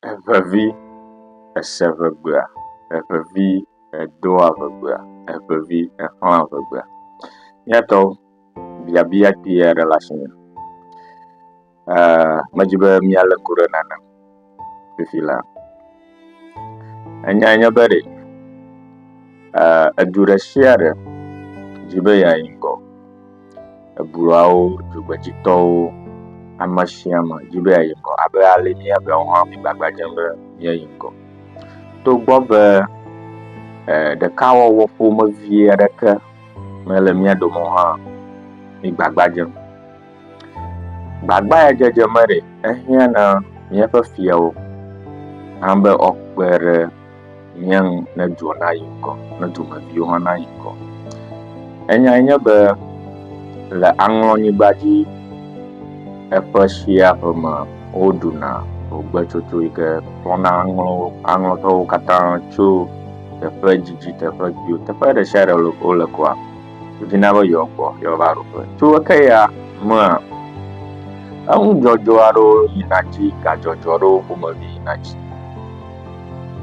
Eŋevi ese ŋegbea, eŋevi edoa ŋegbea, eŋevi exlãa ŋegbea. Míatɔ biabia kpui aɖe le asinye. Eee medi be míalé ŋku ɖe nane ŋu fifi laa, enyae nye be ɖe, Eer edu ɖe sia ɖe di be yeayi ŋgɔ. Ebulawo, dzogbedzitɔwo, ame sia ame di be yeayi ŋgɔ abe ale si míawo hã mígbagba dzem be míayi ŋgɔ. Togbɔ be eer ɖekawɔwɔ ƒomevie aɖeke mele mía dome o hã, mígbagba dzem. Gbagba ya dzedze me ɖe ehiã na míaƒe fiawo hã be woakpe ɖe mía ŋu ne dua nayi ŋgɔ, ne dumeviwo hã nayi ŋgɔ. Enyae nye be le aŋlɔnyigba dzi eƒe sia ƒe me woɖuna ʋugbetsotso yi ke kplɔna aŋlɔ aŋlɔtɔwo katã tso teƒe didi teƒe kpui teƒe ɖe sia ɖe wole kua. vina be yewoakpɔ yewoava ɖu ƒe. Tso eke ya mea, eŋudzɔdzɔ aɖewo yina dzi, gadzɔdzɔ aɖewo ƒomevi yina dzi.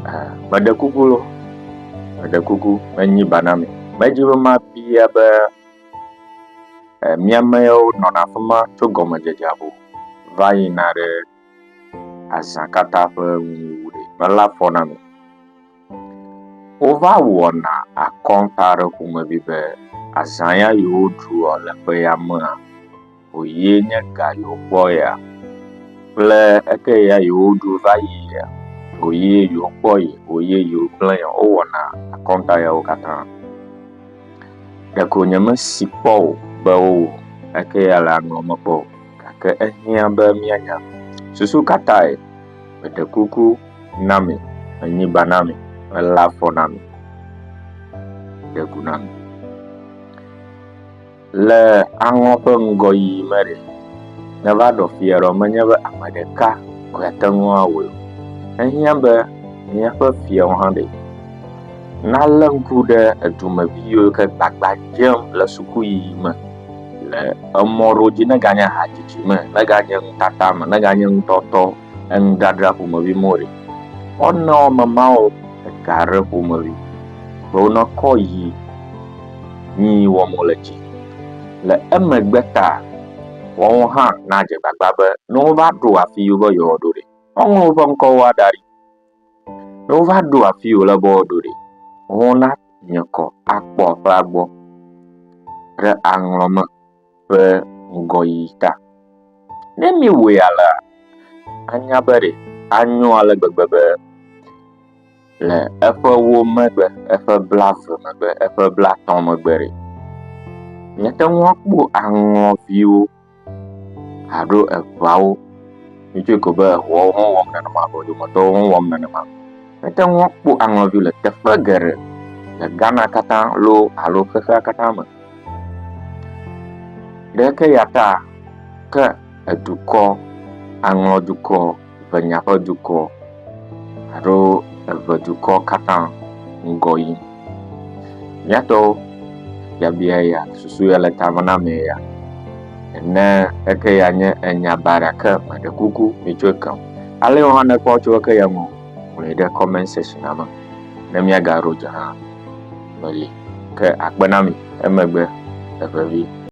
Eh, meɖe kuku lo, meɖe kuku, menyi ba na mi. Medzi be mabia be eh, miamewo nɔna afi ma tso gɔmedzedzea ƒo va yina ɖe azã katã ƒe nuwuwu ɖe mele afɔ na mi. Wova wɔna akɔnta ɖe ƒomevi be azã ya yi woɖua le ƒe ya mea wòye nye ga yi wokpɔ ya kple eke ya yi woɖu va yi ya wòye yi wokpɔ yi wòye yi wogblẽ ya wowɔna akɔnta yawo katã. Ɖeko nyemesi kpɔ o be wowɔ eke ya le aŋɔ me kpɔ o. gake ehiã be míanya. Susu ka tae? Meɖe kuku na mi, menyi ba na mi, melé afɔ na mi, ɖe gu na mi. Le aŋɔ ƒe ŋgɔyiyi me ɖe, neva ɖɔ fia ɖɔ menye be ame ɖeka koe ate ŋu awɔe o. Ehiã be míaƒe fiawo hã ɖe nalé ŋku ɖe edumevi yiwo ke gbagba dzem le sukuyiyi me Le emɔɖodzi neganye hadzidzi me, neganye nutata me, neganye nutɔtɔ, enudradra ƒomevi me o ɖe, wonɔ memao ega ɖe ƒomevi be wonekɔ yi nyi wɔm wole dzi. Le emegbe ta wɔwo hã nadze gbagba be ne wova ɖo afi yi wobe yewoaɖo ɖe, woaŋlɔ woƒe ŋkɔwoa da ɖi. Ne wova ɖo afi yi wòle be woaɖo ɖi, wona nye kɔ akpɔ aƒea gbɔ ɖe aŋlɔ me ƒe ŋgɔyiyi ta. Ne miewɔe alea, anya be ɖe anyo ale gbegbe be le eƒe ewo megbe, eƒe blaeve megbe, eƒe blatɔ̃ megbe ɖe, miate ŋu akpɔ aŋlɔviwo. alo eŋawo ŋutsi ko be eŋuawo hã wɔm nenema o dometɔwo hã wɔm nenema. Ete ŋu akpɔ aŋɔ aɖe le teƒe geɖe le Ghana katã loo alo xexea katã me. Ɖe ke ya ta ke edukɔ aŋɔ dukɔ. ŋenya ƒe dukɔ alo eve dukɔ katã ŋgɔ yim. Míatɔwo biabia ya susu ya le ta me na ame ya. Ene eke ya nye enya baɖa ke meɖe kuku mitsɔ ke o. Ale wɔn hã nekpɔ tso eke ya ŋu ŋlɔe ɖe comment section me ne míagaɖo dze hã meli ke akpe na mi emegbe evevi.